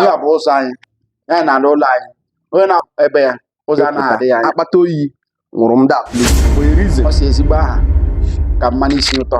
ya bụ ụzọ anyị ya na-ala ụlọ anyị onye na ebe ya ụzọ anaghị adị ya anya akpata oyi wụrụ m that ọ sị ezigbo aha ka mmanụ isi ụtọ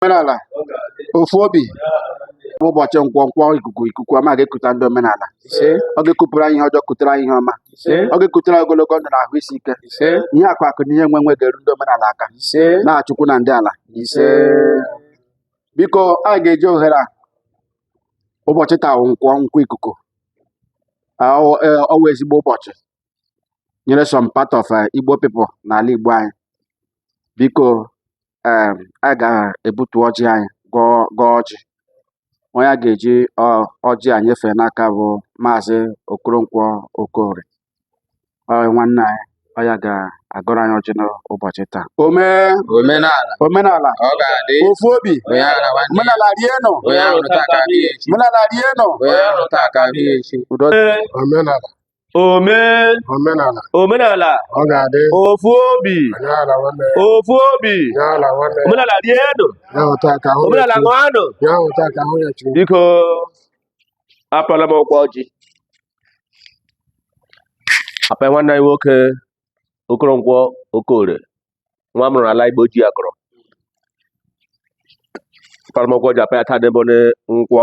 omenala ofu obi bụ ụbọchị nkwọ nkwọ ikuku ikuku ọma ga-ekuta ndị omenala ọ ga-ekupụrụ anyị ihe ọjọọ kutere anyị ihe ọma ọ ga-ekutere anyị ogologo ndụ na ahụ isi ike ihe akụ akụ na ihe enwe enwe ga-eru ndị omenala aka n'aha chukwu na ndị ala biko anyị ga-eji ohere a ụbọchị taa wụ nkwọ nkwọ ikuku Ah, ọ wụ- eh, ọ wụ ezigbo ụbọchị nyere some part of eh, Igbo people n'ala Igbo anyị biko eh, a ga-ebutu ọjị anyị gọọ ọjị onye a ga-eji ọjị a nyefee n'aka bụ maazị Okoronkwo Okorie nwanne anyị ọ ya ga-agọrọ anyị ọjị n'ụbọchị taa omenala ofu obi omenala rienụ omenala rienụ omenala ome omenala omenala ọ ga-adị ofu obi omenala nwanne ya ofu obi omenala nwanne ya omenala dị elu ya hụta ka ahụ omenala ya ṅụanụ chi ya hụta ka ahụ ya chi biko apala m ọkwa ọjị apa nwanne anyị nwoke okoronkwo okore nwa a mụrụ n'ala igbo ji ya kọrọ apala m ọkwa ọjị apa ya taa bụ nkwọ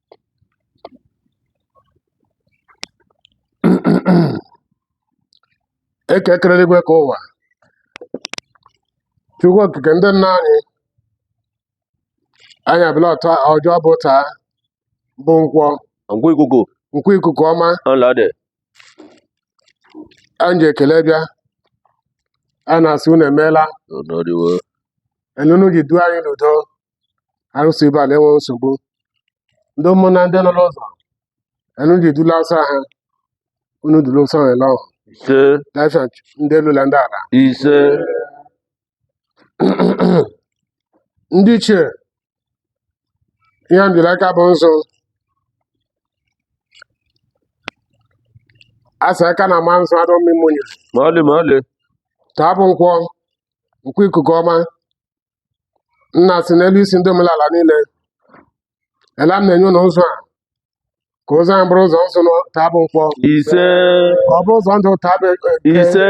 eke kere eluigwe kee ụwa chukwu okike ndị nna anyị anyị abịala ọzọ bụ taa bụ nkwọ nkwọ ikuku nkwọ ikuku ọma ụlọ dị anyị ji ekele bịa a na-asị unu emeela n'ọdịwo etu unu ji duo anyị n'udo arụsị ibe a na-enwe nsogbu ndị ụmụnna ndị nọ n'ụzọ unu ji dula ọsọ ha unu dula ọsọ ha ele ọhụ ise dafia ndị elu na ndị ala ise ndị ichie ihe m ji n'aka bụ nzu a sị aka na-ama nzu adịghị ama unyi ma ọlị ma ọlị taa bụ nkwọ nkwọ ikuku ọma nna si n'elu isi ndị omenala niile ela m na-enye unu nzu a ka ụzọ anyị bụrụ ụzọ nzu taa bụ nkwọ ise ka ọ bụrụ ụzọ ndụ taa bụ eke ise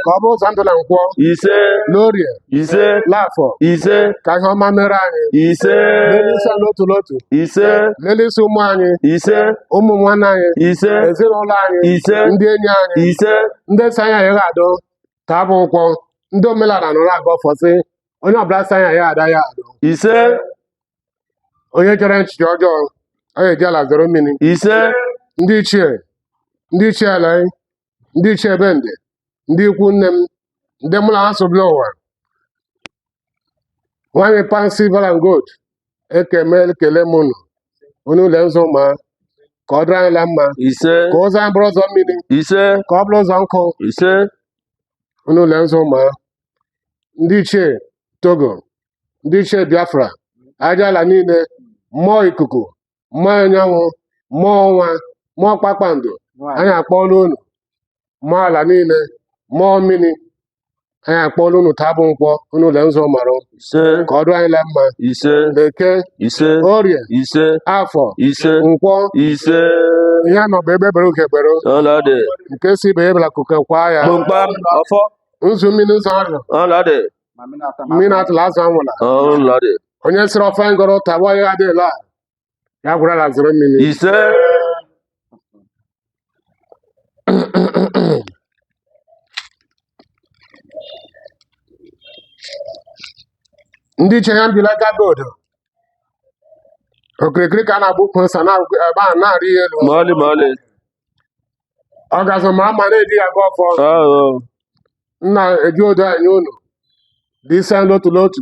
ka ọ bụrụ ụzọ ndụ na nkwọ ise n'orie ise n'afọ ise ka ihe ọma mere anyị ise n'elu isi anyị n'otu n'otu ise n'elu isi ụmụ anyị ise ụmụ nwanne anyị ise ezinụlọ anyị Ise. ndị enyi anyị ise ndị sị anyị anyị adụ taa bụ nkwọ ndị omenala nọ na-agọ ọfọ sị onye ọbụla sị anyị ya-adị ya adị ise onye chere echiche ọjọọ ọ ga-eji ala zoro mmiri ise ndị ichie ndị ichie ala anyị, ndị ichie bende ndị ikwu nne m ndị mụ na ha so bịala ụwa nwanyị pan silver and gold ekeme ekele m unu unu lee nzu maa ka ọ dịrị anyị la mma ise ka ụzọ anyị bụrụ ụzọ mmiri ise ka ọ bụla ụzọ nkụ ise unu lee nzu maa ndị ichie togo ndị ichie biafra aja ala niile mmụọ ikuku mmụọ anyanwụ mmụọ ọnwa mmụọ kpakpando anyị akpọọla unu mmụọ ala niile mmụọ mmiri anyị akpọọla unu taa bụ nkwọ unu lee nzu mara ise ka ọ dụ anyị la mma ise eke ise orie ise afọ ise nkwọ ise ihe a nọ bụ egbe bere ugo bere ọla dị nke sị ibe ya ebela nku kwaa ya kpọmkpam ọfọ ndụ mmiri ndụ azụ ọla dị mmiri atala azụ anwụla onye sịrị ọfọ m gọrọ taa gwa ya adịla ya gwara ala zoro mmiri ise ndị ichie ya mbila gaba odo okirikiri ka a na-agba ukwu ose anaghị arị ya elu ọgazị ma mma anaghị eji ya agọ ọfọ Oh, nna eji odo anyị unu dị ise n'otu n'otu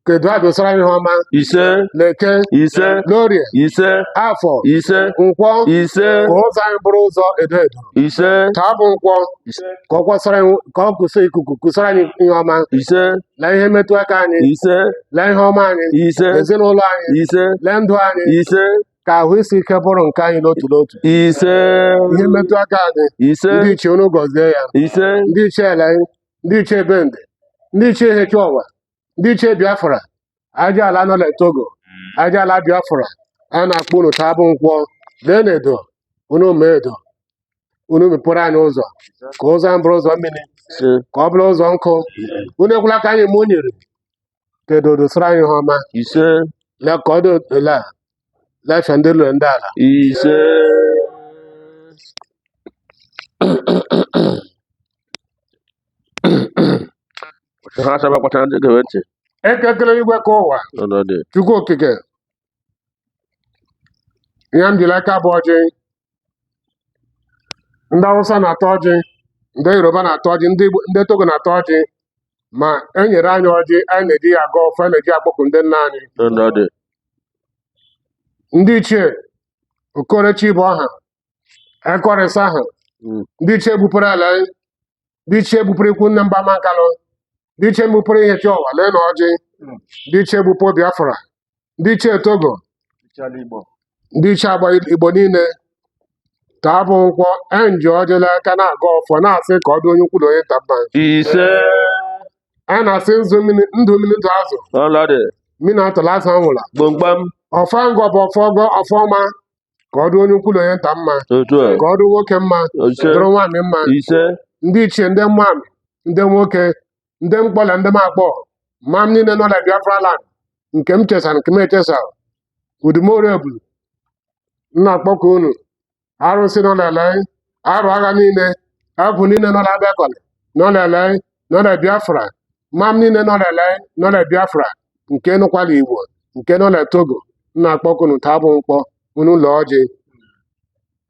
ka edo dosara anyị ihe ọma ise l'eke ise n'orie ise afọ ise nkwọ ise ka ụzọ anyị bụrụ ụzọ edo edo ise taa bụ nkwọ ise ka ọ kwọsara anyị- ka ọ kwụsị ikuku kwọsara anyị ihe ọma ise lee ihe mmetụ aka anyị ise lee ihe ọma anyị ise ezinụlọ anyị ise lee ndụ anyị ise ka ahụ isi ike bụrụ nke anyị n'otu n'otu ise ihe mmetụ aka anyị ise ndị ichie unu gọzie ya ise ndị ichie ala anyị ndị ichie bende ndị ichie ihechiowa ndị ichie biafra aja ala nọ na togo aja ala biafra a na-akpọ unu taa bụ nkwọ leenụ edo unu maa edo unu mepere anyị ụzọ ka ụzọ anyị bụrụ ụzọ mmiri ise ka ọ bụla ụzọ nkụ unu ekwela ka anyị ma o nyere kedu odo sụrụ anyị ihe ọma ise na ka ọ dị ole a lafịa ndị lụrụ ndị ala ise ha asaba kpachara ndị gere ntị ekekere igwe ka ụwa n'ọnọdụ chukwu okike ihe m ji l'aka bụ ọjị ndị Awụsa na-atọ ọjị ndị Yoruba na-atọ ọjị ndị Igbo- ndị Togo na-atọ ọjị ma e nyere anyị ọjị anyị na-eji ya agọ ọfọ anyị na-eji ya akpọku ndị nna anyị Ndị nna dị. ndị ichie okorechi bụ ọha ekọrịsa aha Mm. ndị ichie bupụrụ ala anyị ndị ichie bupụrụ ikwu nne mba mankalụ ndị ichie bupụrụ Ihechiọwa lee na ọjị ndị ichie bupụ biafra ndị ichie togo Chala Igbo. ndị ichie agba igbo niile taa bụ nkwọ anyị ji ọjị l'aka na-agọ ọfọ na-asị ka ọ dị onye ukwu na onye nta mma Ise. a na-asị ndụ mmiri ndụ azụ Ọlọdị. mmiri atụla azụ anwụla Gbamgbam. ọfọ m gọ bụ ọfọ ọgọ ọfọ ọma ka ọ dụ onye ukwu na onye nta mma otu a ka ọ dụ nwoke mma ise dụrụ nwaanyị mma ise ndị ichie ndị nwaanyị ndị nwoke ndị m kpọ na ndị m akpọ mam niile nọ na biafra land nke m chesa nke m echesa udumorebulu m na-akpọkọ unu arụsị nọ na ele arụ agha niile agwụ niile nọ n'Abakaliki nọ n'ele nọ na Biafra mam niile nọ n'ele nọ na Biafra nke nọkwa l'Igbo nke nọ na Togo m na-akpọkọ unu taa bụ nkwọ unu ụlọ ọjị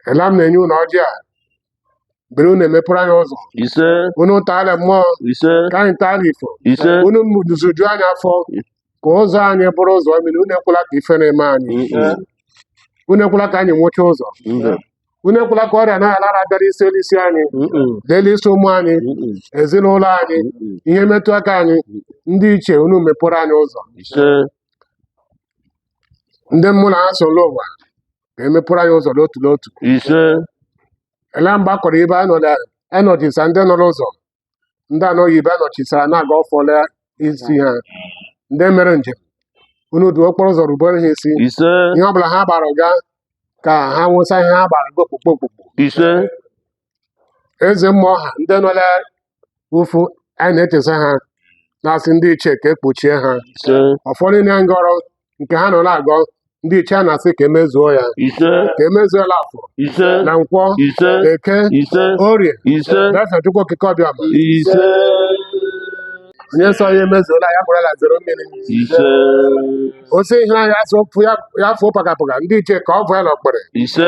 ela m na-enye unu ọjị a bere unu emepere anyị ụzọ ise unu taala mmụọ ise ka anyị taala ifo ise unu zụjuo anyị afọ ka ụzọ anyị bụrụ ụzọ mmiri unu ekwela ka ifere mee anyị unu ekwela ka anyị nwụcha ụzọ mbe unu ekwela ka ọrịa anaghị ala ala bịara isi elu isi anyị l'elu isi ụmụ anyị ezinụlọ anyị ihe metụ aka anyị ndị ichie unu mepụrụ anyị ụzọ ndị mụ na ha so n'ụwa ga-emepụrụ anyị ụzọ n'otu n'otu ele mgbe a kọrọ ibe anọchisa ndị nọ n'ụzọ ndị anọghị ibe anọchisara na-agọ ọfọ l'isi ha ndị mere njem unu duo okporo ụzọ rubere ha isi ise ihe ọ bụla ha gbara ga ka ha nwesa ihe ha gbara ga okpukpo okpukpo ise eze mmụọ ha ndị nọ l'ụfụ anyị na-echesa ha na-asị ndị ichie ka e kpuchie ha ise ọfọ niile m gọrọ nke ha nọ na-agọ ndị ichie a na-asị ka e mezuo ya ise ka e mezuo l'afọ ise na nkwọ ise eke ise orie ise Blessed Chukwu okike abịama ise onye sị ya emezula ya bụrụla zere mmiri ise ọ sị ihe ahụ ya sụpụ ya ya fụọ pakapaka ndị ichie ka ọ bụ ya na ọkpere ise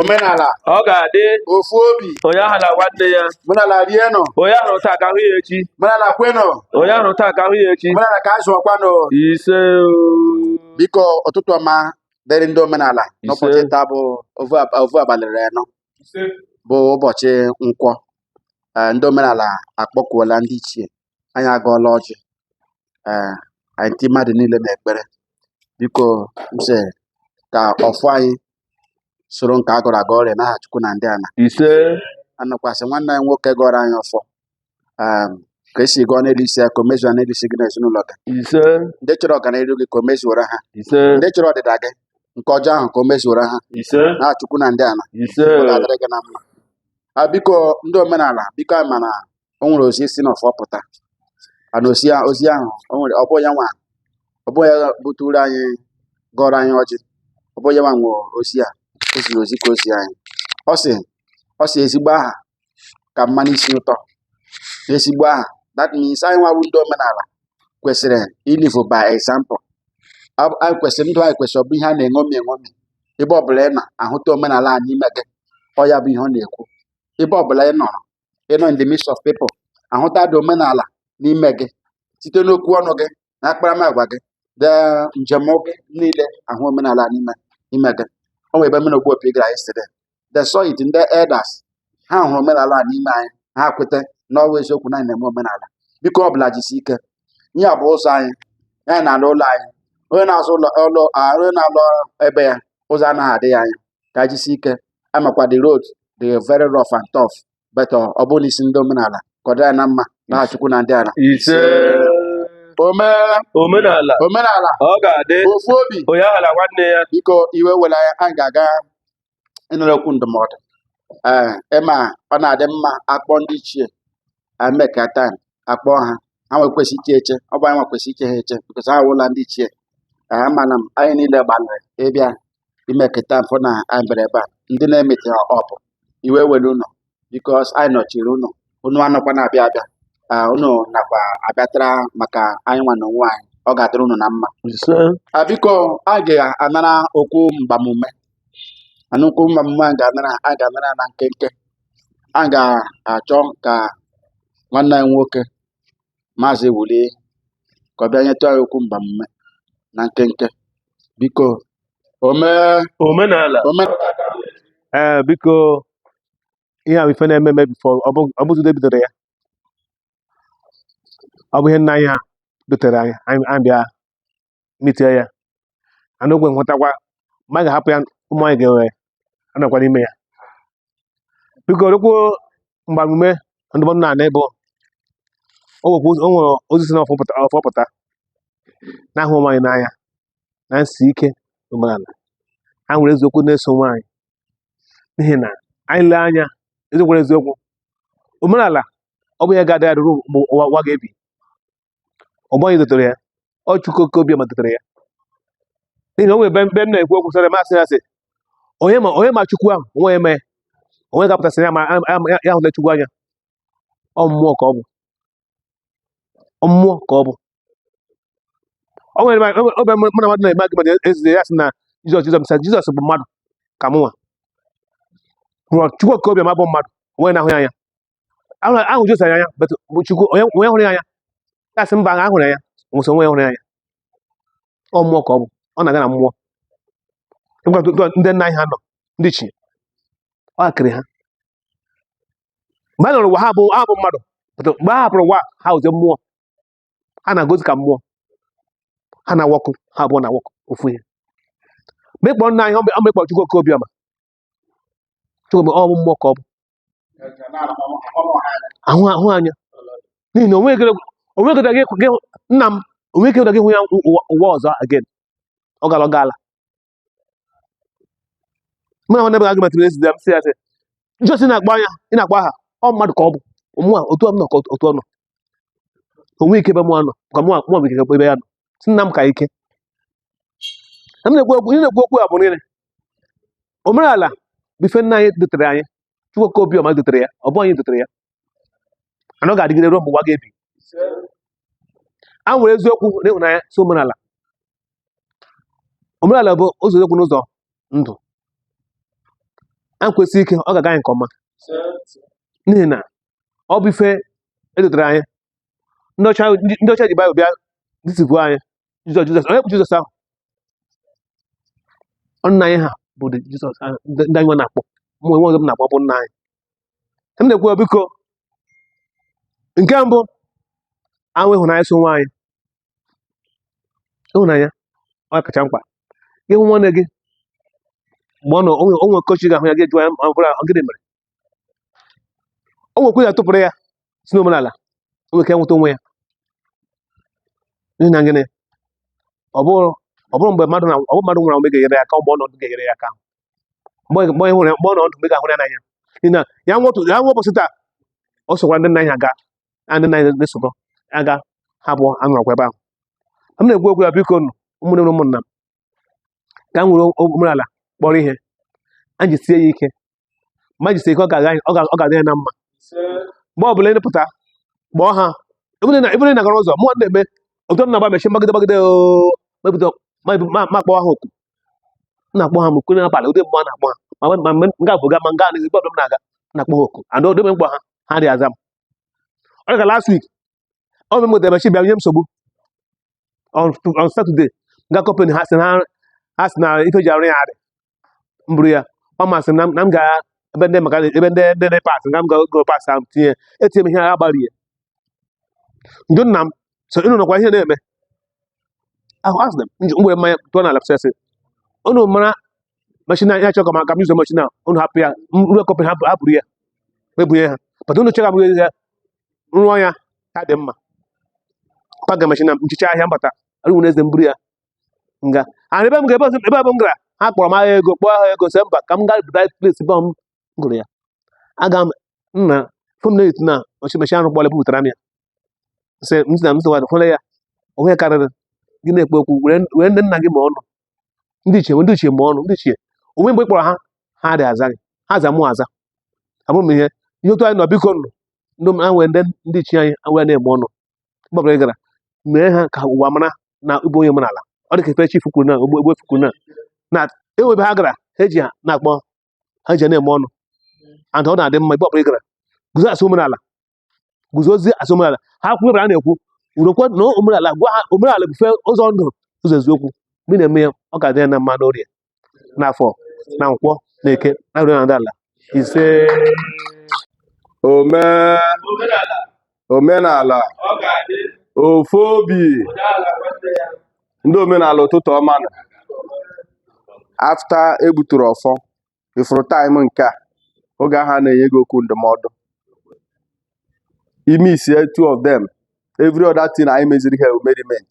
omenala ọ ga-adị ofu obi onye ahala nwanne ya omenala rienụ onye a hụ taa ka a hụ ya echi omenala kwenụ onye a hụ taa ka a hụ ya echi omenala kwezuokwanụ ise biko ụtụtụ ọma dịrị ndị omenala n'ụbọchị taa bụ ovu abalị anọ bụ ụbọchị nkwọ ee ndị omenala akpọkuola ndị ichie anyị agọọla ọjị ee anyị ndị mmadụ niile na-ekpere biko m sị ka ọfọ anyị soro nke a gọrọ agọ ree n'aha Chukwu na ndị ana ise a nakwa asị nwanne anyị nwoke gọọrọ anyị ọfọ um, ka e si gọọ n'elu isi ya ka o mezuo n'elu isi gị na ezinụlọ gị ise ndị chọrọ ọganihu gị ka o mezuoro ha ise ndị chọrọ ọdịda gị nke ọjọọ ahụ ka o mezuoro ha ise na chukwu na ndị ala ise ọ ga-adịrị gị na mma a biko ndị omenala biko anyị ma na o nwere ozi si n'ọfọ pụta ana ozi a- ozi ahụ o nwere ọ bụ ya nwa ọ bụ ya buturu anyị gọọrọ anyị ọjị ọ bụ ya nwa nwe ozi a o ziri ozi ka o zi anyị ọ sị ọ sị ezigbo aha ka mmanụ isi ụtọ na ezigbo aha that means anyị nwa bụ ndị omenala kwesịrị ilive by example anyị kwesịrị ndụ anyị kwesịrị ọ bụ ihe a na-eṅomi eṅomi ebe ọbụla ị nọ a hụta omenala a n'ime gị ọ ya bụ ihe ọ na-ekwu ebe ọbụla ị nọrọ ị nọ in the midst of people a hụta the omenala n'ime gị site n'okwu ọnụ gị na akparamagwa gị de njem gị niile a hụ omenala n'ime ime gị o nwere ebe mụ na Ogbuopi gara yesterday they saw it ndị elders ha hụrụ omenala a n'ime anyị ha kweta na ọ wụ eziokwu na anyị na-eme omenala biko ọ bụla jisi ike ihe a bụ ụzọ anyị anyị na-ala ụlọ anyị onye na-azụ ụlọ ụlọ a, onye na-ala be ya ụzọ anaghị adị ya anya ka jisi ike amakwa the road dị very rough and tough but ọ bụ n'isi ndị omenala ka ọ dị anyị na mma n'aha chukwu na ndị ala ise ome omenala omenala ọ ga-adị ofu obi onye ahala nwanne ya biko iwe ewela anyị anyị ga-aga ịnụrụ okwu ndụmọdụ ee ị ma ọ na-adị mma a kpọọ ndị ichie e mekata a kpọọ ha ha nwe kwesị iche eche ọ bụ anyị nwe kwesị iche ha eche because ha wụla ndị ichie ee amana m anyị niile gbalịrị ịbịa i mekata m fụ na anyị bịara ebe a ndị na-emete ha ọpụ iwe ewela unu because anyị nọchiri unu unu anọkwa na-abịa abịa Ah, unu nakwa abịatara maka anyị nwa na onwe anyị ọ ga-adịrị unu na mma ise Ah, biko anyị ga-anara okwu mgbamume a nụ okwu mgbamume a ga-anara anyị ga-anara na nkenke anyị ga-achọ ka nwanne anyị nwoke maazị Wuli ka ọ bịa nyetụ anyị okwu mgbamume na nkenke biko ome omenala ome ee biko ihe ahụ ife na-eme eme before ọ bụ Ezeudo bidoro ya ọ bụ ihe nna anyị ha dotere anyị anyị anyị bịa mitie ya anụ ogwe nhụtakwa ma anyị ga-ahapụ ya ụmụ anyị ga-enwe anọkwa n'ime ya biko okwu mgbamume ndụmọdụ na anị bụ o nwekwa ụzọ- o nwere ozi si n'ọfọ pụta- ọfọ pụta na-ahụ onwe anyị n'anya na nsi ike omenala ha nwere eziokwu na-eso onwe anyị n'ihi na anyị lee anya eziokwu na eziokwu omenala ọ bụ ya ga-adị adị ruo mgbe ụwa ụwa ga-ebi ọ bụghị anyị dotere ya ọ chukwu oke obiọma dotere ya n'ihi na o nwere ebe m na-ekwu okwu sara masị ya sị onye ma onye ma chukwu ahụ onwe eme onwe ga-apụta sị ya ma ya hụla chukwu anya ọ mmụọ ka ọ bụ ọ mmụọ ka ọ bụ o nwere ebe mụ na mmadụ na-eme argument yesterday ya sị na jizọs jizọs sị jizọs bụ mmadụ ka mụnwa rụọ chukwu oke obiọma bụ mmadụ onwe na-ahụ ya anya Ahụrụ- ahụ jizọs anya but bụ chukwu onye onye hụrụ ya anya ya sị mba ahụ hụrụ ya m wee sị onwe ya hụrụ ya anya ọ mmụọ ka ọ bụ ọ na-aga na mmụọ Ngwa tụ- tụ- ndị nna anyị ha nọ ndị ichie ọ akịrị ha mgbe ha nọrọ ụwa ha bụ ha bụ mmadụ but mgbe ha hapụrụ ụwa ha abụzi mmụọ ha na-agozi ka mmụọ ha na-awọkụ ha abụọ na-awọkụ ofu ihe m kpọọ nna anyị ọ m kpọọ chukwu oke obiọma Chukwu bụ ọ bụ mmụọ ka ọ bụ ahụ ahụ anya n'ihi na onwe ekere onwe ekere gị gị nna m onwe ekere gị hụ ya ụwa ụwa ọzọ again ọ gara ọ gaala mụ na nwanne m argument yesterday m sị ya sị jizọs na-akpọ anya ị na-akpọ aha ọ mmadụ ka ọ bụ mụ a otu ọ nọ ka otu ọ nọ onwe ike ebe mụa nọ ka mụ mụ bụ ike ebe ya nọ sị nna m ka ike na m na-ekwu okwu ihe na-ekwu okwu a bụ nile omenala bụ ife nna anyị dotere anyị chukwu oke obiọma dotere ya ọ bụ anyị dotere ya na ọ ga-adịgide ruo mgbe ụwa ga-ebi a nwere eziokwu na ịhụnanya so omenala omenala bụ ụzọ eziokwu na ụzọ ndụ anyị kwụsie ike ọ ga-aga anyị nke ọma n'ihi na ọ bụ ife edotere anyị ndị ọcha ndị ọcha ji baịbụl bịa deceive anyị jizọs jizọs onye bụ jizọs ahụ Ọ nna anyị ha bụ the jizọs ah, ndị ndị anyị nwa na-akpọ mụ onwe ọzọ m na-akpọ bụ nna anyị m na-ekwu ya, biko nke mbụ anyị nwee ịhụnanya so onwe anyị ịhụnanya ọ kacha mkpa gị hụ nwanne gị mgbe ọ nọ onwe onwe kochi ga-ahụ ya gị jụọ ya ma ọ bụrụ ọ gịnị mere o nwekwa ya tụpụrụ ya si n'omenala o nwere ike nweta onwe ya n'ihi na gịnị ọ bụrụ ọ bụrụ mgbe mmadụ na ọ bụrụ mmadụ nwụrụ anwụ ga-enyere ya aka mgbe ọ nọ ndụ ga-enyere ya aka mgbe mgbe ịhụrụ ya mgbe ọ nọ ndụ mgbe ị ga-ahụrụ ya n'anya n'ihi na ya nwetụ ya nwe ụbọchị taa ọ sokwa ndị nna ya aga ya ndị nna ya na-esokọ aga ya bụ anọrọkwa ebe ahụ m na-ekwu okwu ya biko nụ ụmụnne m na ụmụnna m ka m nwere omenala kpọrọ ihe anyị jisie ya ike ma jisie ike ọ ga-adị ya na mma mgbe ọ bụla ị pụta kpọọ ha ebụrụ na nagara ụzọ mụ na-eme otu m na-agba machine m gbagide gbagide m akpọọ ha oku na-akpọ ha oku n'abalị ụdị mgbe a na-akpọ ha ma mgbe m ga-abụ ga ma nga anaghị ebe ọbụla m na-aga na-akpọ ha oku and odebe m kpọọ ha ha dị aza m ọ dịka last week ọ bụ mgbe machine bịa nye m nsogbu on on Saturday m gaa company ha si na ha si na ife e ji arụ ya adị m buru ya ọ masị m na m- na m ga ebe ndị maka ebe ndị ndị ndị parts nga m ga go parts ahụ tinye etinye m ihe agha gbarie njụ nna m so ịnụ nọkwa ihe na-eme ahụ asị na m ji mgbe mmanya tụọ na lapsesị unu mara machine ya chọrọ ka ma ka m yuzo machine a unu hapụ ya m ruo company hapụ hapụrụ ya m ebunye ha pata unu chọrọ ka m ga- rụọ ya ka dị mma paka machine nchicha ahịa mbata arụwere eze m buru ya m gaa ana ebe m ga ebe ọzọ- ebe ọbụ m gara ha kpọrọ m aha ego kpọọ aha ego sị mba ka m gaa bright place ebe m goro ya aga m nna fom na na ọchị machine ahụ kpọrọ bupụtara m ya sị m sị na m sịwa fụla ya o nwee ihe karịrị gị na-ekpe okwu were were ndị nna gị mee ọnụ ndị ichie ndị ichie mee ọnụ ndị ichie o nwe mgbe ị kpọrọ ha ha dị aza gị ha aza mụ aza abụ m ihe ihe otu anyị nọ biko nụ ndị m anwe ndị ndị ichie anyị e were na-eme ọnụ mgbe ọbụla ị gara mee ha ka ụwa mara na ị bụ onye omenala ọ dị ka ife chifu kwuru na ogbuefi kwuru na na enwebe ha gara ha eji ha na-akpọ ha ji na-eme ọnụ and ọ na-adị mma mgbe ọbụla ị gara guzo asị omenala guzozie asị omenala ha kwuo a na-ekwu urokwe na omenala gwa ha omenala bụ ife ụzọ ndụ ụzọ eziokwu mgbe ị na-eme ya ọ ga-adị ya na mma n'orie n'afọ na nkwọ na eke na nri na ala ise ome omenala ofu obi ndị omenala ụtụtụ ọma nụ after e gbuturu ọfọ ị fụrụ time nke a oge ahụ a na-enye gị okwu ndụmọdụ ị missie two of them every other thing anyị meziri here merriment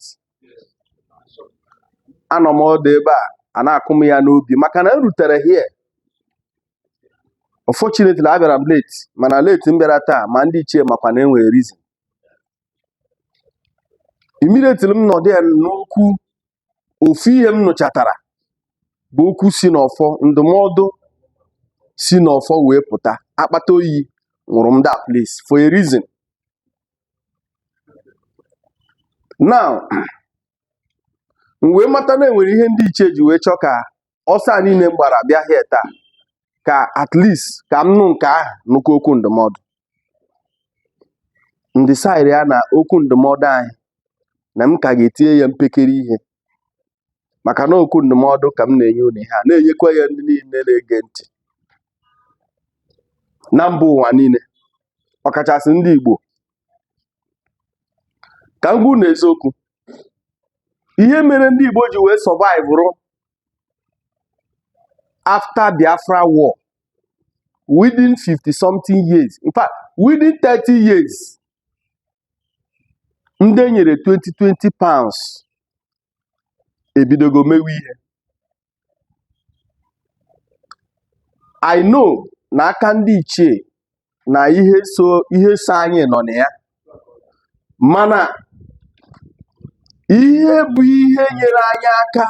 anọ m ọdụ ebe a a na-akụ m ya n'obi maka na m rutere here unfortunately abịara m late mana late m bịara taa ma ndị ichie makwa na e nwere reason immediately m nọdụ ya n'okwu ofu ihe m nụchatara bụ okwu si n'ọfọ ndụmọdụ si n'ọfọ wee pụta akpata oyi nwụrụ m that place for a reason now m wee mata na enwere ihe ndị ichie ji wee chọọ ka ọsọ a niile m gbara bịa here taa ka at least ka m nụ nke ahụ nụkwa okwu ndụmọdụ ndị saịrị ya na okwu ndụmọdụ anyị na m ka ga-etinye ya mpekere ihe maka na okwu ndụmọdụ ka m na-enye unu ihe a na-enyekwa ya ndị niile na-ege ntị na mba ụwa niile ọkachasị ndị Igbo ka m gwa unu eziokwu ihe mere ndị Igbo ji wee survive rụ after Biafra war within 50 something years in fact within 30 years ndị e nyere 20 20 pounds ebidogo mewe ihe I know na aka ndị ichie na ihe so anyị nọ na ya mana ihe bụ ihe nyere anyị aka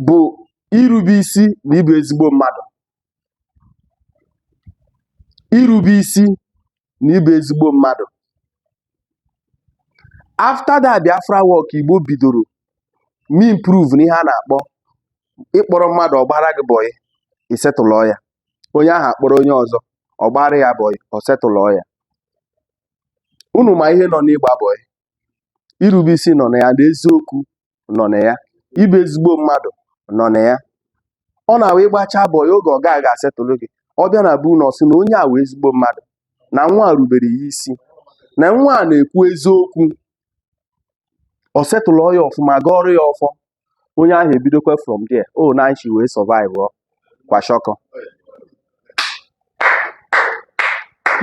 bụ irube isi na ịbụ ezigbo mmadụ irube isi na ịbụ ezigbo mmadụ after that Biafra war ka Igbo bidoro me improve n'ihe a na-akpọ ị kpọrọ mmadụ ọ gbara gị bọyị ị setụlọ ya onye ahụ akpọrọ onye ọzọ ọ gbara ya bọyị ọ setụlọ ya unu ma ihe nọ n'ịgba bọyị irube isi nọ na ya na eziokwu nọ na ya ịbụ ezigbo mmadụ nọ na ya ọ na-awụ ị gbachaa bọyị oge ọga gị ga-asetụlụ gị ọ bịa na be unu ọ sị na onye a wụ ezigbo mmadụ na nwa a rubere ya isi na nwa a na-ekwu eziokwu ọ setụlụ ya ọfụma gọọrọ ya ọfọ onye ahụ ebidokwa from there ọ na anyị si wee survive ọ kwashiorkor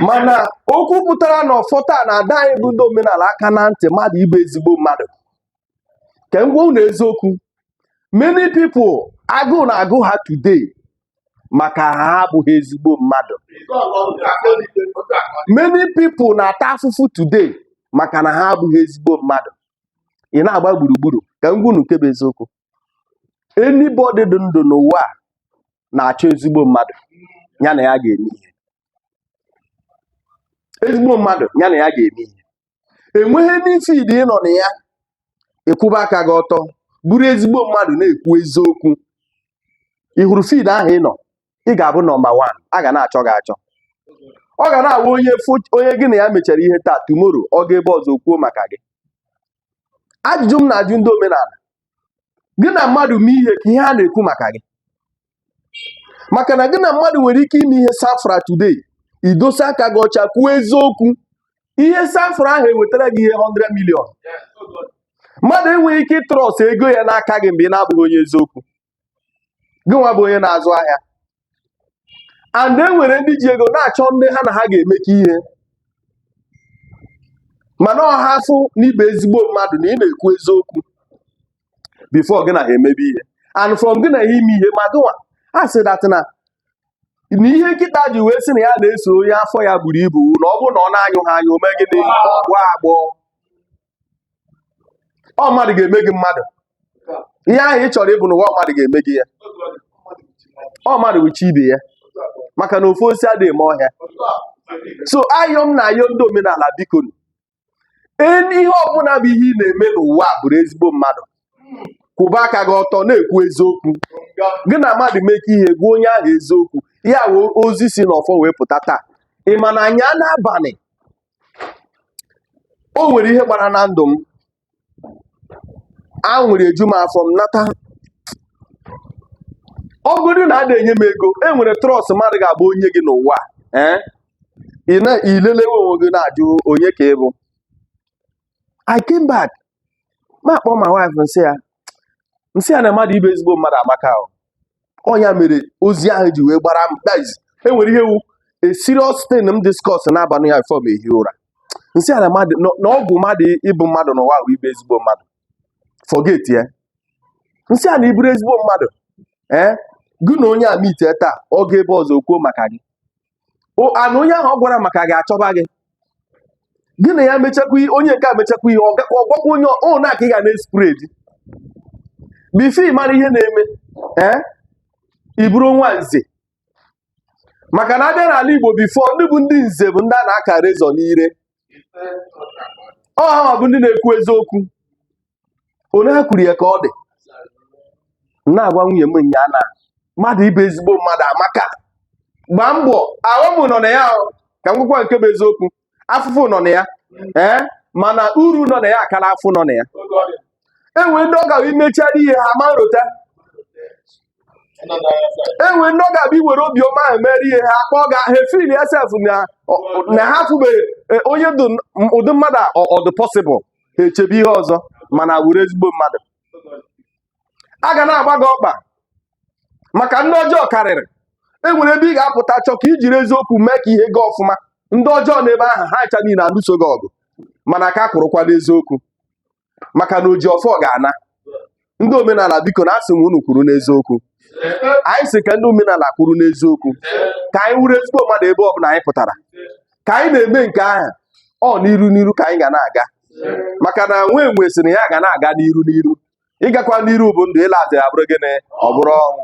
mana okwu pụtara na ọfọ taa na-adọ anyị bụ ndị omenala aka na ntị mmadụ ịbụ ezigbo mmadụ ka m gwa unu eziokwu many people agụụ na-agụ ha today maka ha abụghị ezigbo mmadụ many people na-ata afụfụ today maka na ha abụghị ezigbo mmadụ ị na-agba gburugburu ka m gwa unu nke bụ eziokwu anybody dị ndụ n'ụwa a na-achọ ezigbo mmadụ ya na ya ga-eme ihe ezigbo mmadụ ya na ya ga-eme ihe enweghị any field ị nọ na ya ị kwụba aka gị ọtọ bụrụ ezigbo mmadụ na-ekwu eziokwu ị hụrụ field ahụ ị nọ ị ga-abụ number one a ga na-achọ gị achọ ọ ga na-awụ onye fo- onye gị na ya mechara ihe taa tomorrow ọ gaa ebe ọzọ kwuo maka gị ajụjụ m na-ajụ ndị omenala gị na mmadụ mee ihe kee ihe a na-ekwu maka gị maka na gị na mmadụ nwere ike ime ihe safra today i dosa aka gị ọcha kwuo eziokwu ihe safra ahụ ewetara gị ihe 100 million mmadụ enweghị ike ịtrust ego ya n'aka gị mgbe ị na-abụghị onye eziokwu gị nwa bụ onye na-azụ ahịa and e nwere ndị ji ego na-achọ ndị ha na ha ga-emekọ ihe mana ọ ha afụ na ị bụ ezigbo mmadụ na ị na-ekwu eziokwu before gị na ha emebe ihe and from gị na ha ime ihe ma gịnwa a sị that na na ihe nkịta ji wee sị na ya na-eso onye afọ ya buru ibu na ọ bụrụ na ọ na-anyụghị anyụ o mee gịnị ọ gbọọ agbọ ọ mmadụ ga-eme gị mmadụ ihe ahụ ị chọrọ ịbụ n'ụwa mmadụ ga-eme gị ya ọ mmadụ wụ chi ibe ya maka na ofu osisi adịghị eme ọhịa so ayọ m na-ayọ ndị omenala biko ihe ọbụla bụ ihe ị na-eme n'ụwa a bụrụ ezigbo mmadụ kwụba aka gị ọtọ na-ekwu eziokwu gị na mmadụ mekọ ihe gwa onye ahụ eziokwu ya wụ ozi si n'ọfọ wee pụta taa ị ma na nnyaa n'abalị o nwere ihe gbara na ndụ m aṅụrị eju m afọ m nata ọ bụrụ na ada enye m ego e nwere trust mmadụ ga-abụ o nye gị n'ụwa a, ee ị na- ị lelewe onwe gị na-ajụ onye ka ị bụ I came back m akpọọ my wife m sị ya m sị ya na mmadụ ịbụ ezigbo mmadụ amaka o ọ nya mere ozi ahụ ji wee gbara m guys e nwere ihe wụ a serious thing m discuss n'abalị ya before m ehi ụra m sị ya na mmadụ na ọgwụ mmadụ ịbụ mmadụ n'ụwa wụ ịbụ ezigbo mmadụ forget ya m sị ya na ị bụrụ ezigbo mmadụ ee eh? gị na onye a mitie taa ọ gaa ebe ọzọ kwuo maka gị O- ya na onye ahụ ọ gwara maka gị achọba gị gị na ya mechakwa ihe onye nke a mechakwa ihe ọ ga- ọ gwakwa onye ọ ọ na ka ị ga na-espread before ị mara ihe na-eme ee ị bụrụ nwa nze maka na a bịa n'ala igbo before ndị bụ ndị nze bụ ndị a na-aka razor n'ire ọ ha bụ ndị na-ekwu eziokwu onye ha kwuru ya ka ọ dị m na-agwa nwunye m nya na mmadụ ịbụ ezigbo mmadụ amaka gbaa mbọ afụfụ nọ na ya ahụ ka m kwukwa nke bụ eziokwu afụfụ nọ na ya ee mana uru nọ na ya akara afụfụ nọ na ya e nwere ndị ọ ga-awụ i mechara ihe ha ama rota enwere ndị ọ ga-abụ iwere obiọma ahụ mere ihe ha kpọọ gị ha efeel sef na ha afụbeghị e, onye dị ụdị mmadụ a ọ dị possible ha echebe ihe ọzọ mana wụrụ ezigbo mmadụ a ga na-agba gị ọkpa maka ndị ọjọọ karịrị enwere ebe ị ga-apụta chọọ ka ijiri eziokwu mee ka ihe gaa ọfụma ndị ọjọọ n'ebe ahụ ha ncha niile alụso gị ọgụ mana ka kwụrụkwa n'eziokwu maka na oji ọfọ ga-ana ndị omenala biko na asị m unu kwụrụ n'eziokwu anyị sị ka ndị omenala kwụrụ n'eziokwu ka anyị wụrụ ezigbo mmadụ ebe ọbụla anyị pụtara ka anyị na-eme nke ahụ ọ n'iru n'iru ka anyị ga na-aga maka na nwa enwe sị na ya ga na-aga n'iru n'iru ịgakwa n'iru bụ ndụ ịla azụ ya bụrụ gịnị ọ bụrụ ọnwụ